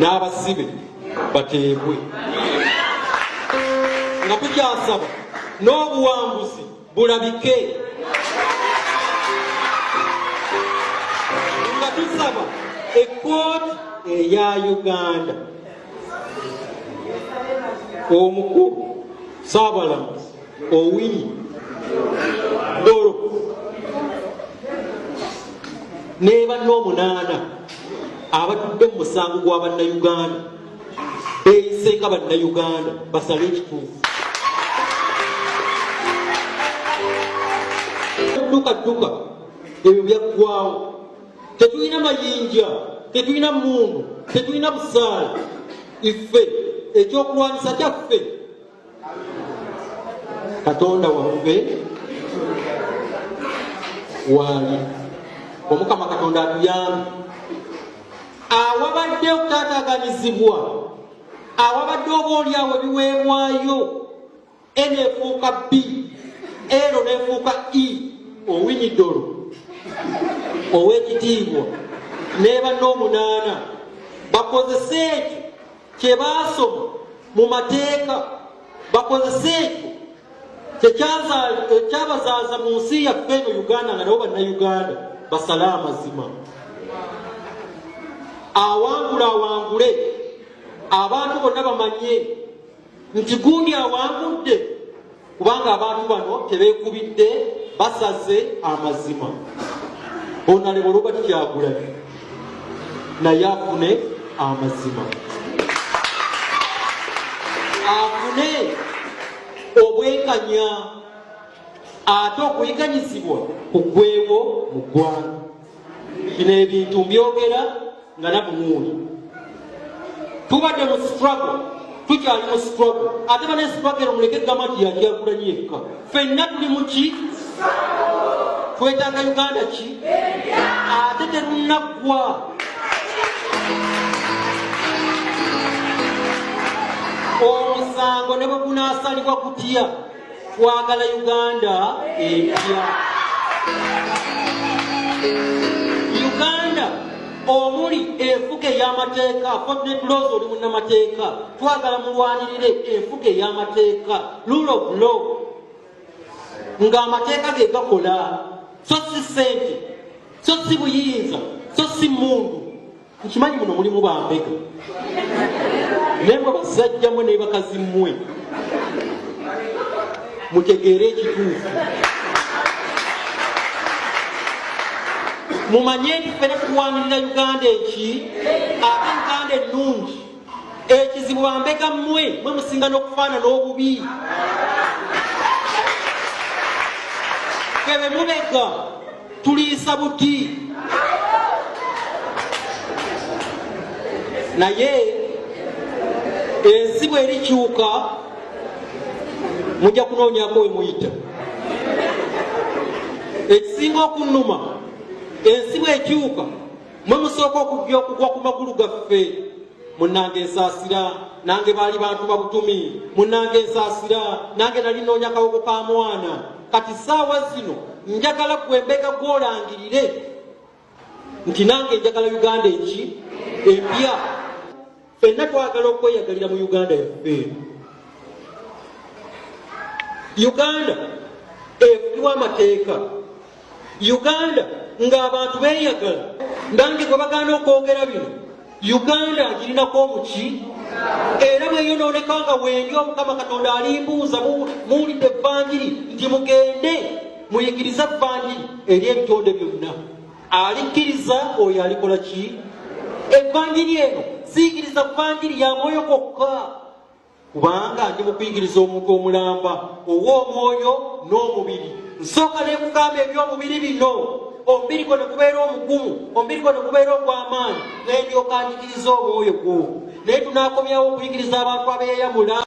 n'abasibe bateebwe nga tukyasaba n'obuwanguzi bulabike nga tusaba ekkooti eya uganda omukulu saabalamuzi owinyi dolo nebanna omunaana abatudde mu musango gwa bannayuganda beyise nga bannayuganda basale ekituufu dukadduka ebyo byaggwawo tetulina mayinja tetulina mundu tetulina busaala iffe ekyokulwanyisa kyaffe katonda waffe waali omukama katonda atuyambe awabadde okutataganizibwa awabadde oba olyawo ebiweebwayo enefuuka b ero nefuuka e owinidolo owekitiibwa neba n'omunaana bakozese ekyo kye baasoma mu mateeka bakozese ekyo kyekyabazaaza mu nsi yaffe eno uganda nga nabo bannayuganda basale amazima awangula awangule abantu bonna bamanye nti gundi awangudde kubanga abantu bano tebekubidde basaze amazima onalebo robert kyagulanyi naye afune amazima afune obwekanya ate okuyiganyizibwa kugwewo mu ggwanga bino ebintu mbyogera nga nabunuuni tubadde mu struggle tukyali mu struggle ate bane struggle omuleke gamba nti yajagulanyi yekka fenna tuli muki twetaaga uganda ki ate terunaggwa omusango ne bwe gunaasalibwa kutya twagala uganda empya uganda omuli enfuga ey'amateeka fodnetlos oli munnamateeka twagala mulwanirire enfuga ey'amateeka lulo bulo ng'amateeka ge gakola so si sente so si buyinza so si mundu nkimanyi muno mulimu bambega naye mwe basajja mwe naye bakazi mmwe mutegeere ekituufu mumanye nti fena tuwanirira uganda eki ate uganda ennungi ekizibu bambega mmwe mwe musinga n'okufaanana obubi febe mubega tuliisa buti naye ensi bwerikyuka mujja kunoonyako we muyita ekisinga okunnuma ensi bwekyuka mwe musooka okujja okugwa ku magulu gaffe munange nsaasira nange baali bantu babutumi munange nsaasira nange nali noonya kawoko ka mwana kati saawa zino njagala gwe mbega gwolangirire nti nange njagala uganda eki empya fenna twagala okweyagalira mu uganda yaffe eno uganda ekubibwa amateeka uganda ng'abantu beeyagala nange gwe bagana okwogera bino uganda agirinako omuki era bweyonooneka nga wendi omukama katonda alimbuuza muwulidde evanjiri nti mugende muyigirize evanjiri eri ebitonde byonna alikkiriza oyo alikola ki evanjiri eno ziyigiriza vanjiri ya mwoyo kokka kubanga ndi mukuyigiriza omuntu omulamba ow'omwoyo n'omubiri nsooka nekugamba eby'omubiri bino omubiri gwo nekubeera omugumu omubiri gwo nekubeera ogw'amaanyi nendyoka njigiriza omwoyo gwo naye tunakomyawo okuyigiriza abantu abeyamula